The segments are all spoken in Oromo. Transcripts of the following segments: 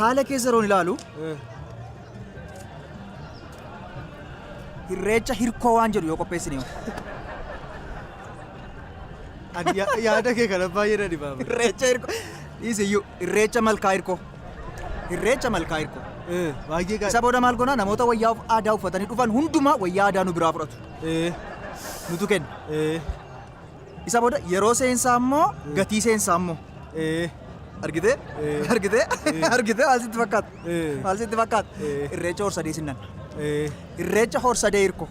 haala keessa yeroon ilaalu hirreecha hirkoo waan jedhu yoo qopheessine hoo? Ani ya- yaada kee kana baay'ee na dhibaama. hirreecha hirkoo dhiisiyyuu hirreecha malkaa hirkoo hirreecha malkaa hirkoo Eh, Baay'ee isa gaariidha. booda maal goona namoota wayyaa of- aadaa uffatanii dhufan hundumaa wayyaa aadaa nu biraa fudhatu Eh, nutu kenna eh. Isa booda yeroo seensaa immoo gatii seensaa immoo. Argitee? Argitee? Argitee maal sitti fakkaata? Maal sitti fakkaata? Irreecha horsadee sinnan. Irreecha horsadee hirko.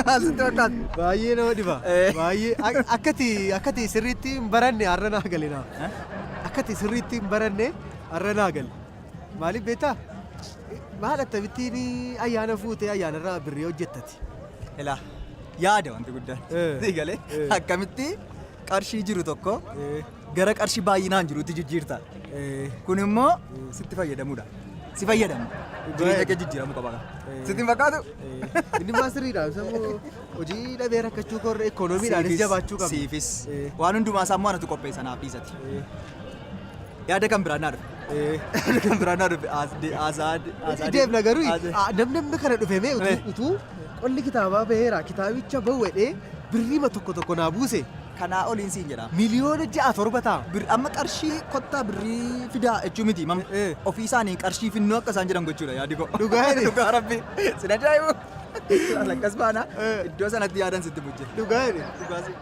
Maal sitti fakkaata? Baay'ee nama dhiba. Baay'ee akkati akkati sirriitti hin baranne har'a naa gale naa. Akkati sirriitti hin baranne har'a naa gale. Maaliif beektaa? Maal akkamittiin ayyaana fuutee ayyaanarraa birrii hojjettati? Akkamitti? Ilaa yaada wanti guddaan. Eh. Sii galee Eh. akkamitti qarshii jiru tokko Eh, gara qarshii baay'inaan jirutti jijjiirta. eh, Kun immoo sitti fayyadamudha. Si fayyadamu. Jireenya kee jijjiiramuu qaba. Eh. Sitti hin fakkaatu? eh. Inni maa sirriidha. Sammuu hojii dhabee rakkachuu korra ikoonomiidhaanis Siifis- jabaachuu qabna. Siifis. Eh. Waan hundumaa isaa immoo anatu qopheessa naaf dhiisati. Eh, Yaada kan biraan naa dhufe. Kan biraan naa dhufe Azaad. Deemna garuu namni amma kana dhufe mee utuu qolli kitaabaa baheera kitaabicha bawwedhee birriima tokko tokko naa buuse. Kanaa oliin siin jedha. Miliyoona ja'a torba ta'a. Bir amma qarshii kottaa birrii fidaa jechuu miti mam ofii isaanii qarshii finnoo akka isaan jedhan gochuudha yaadi koo. Dhugaa jedhe. Dhugaa rabbi. Sin ajaa'ibu. Lakkas baana iddoo sanatti yaadan sitti bujje. Dhugaa jedhe. Dhugaa si.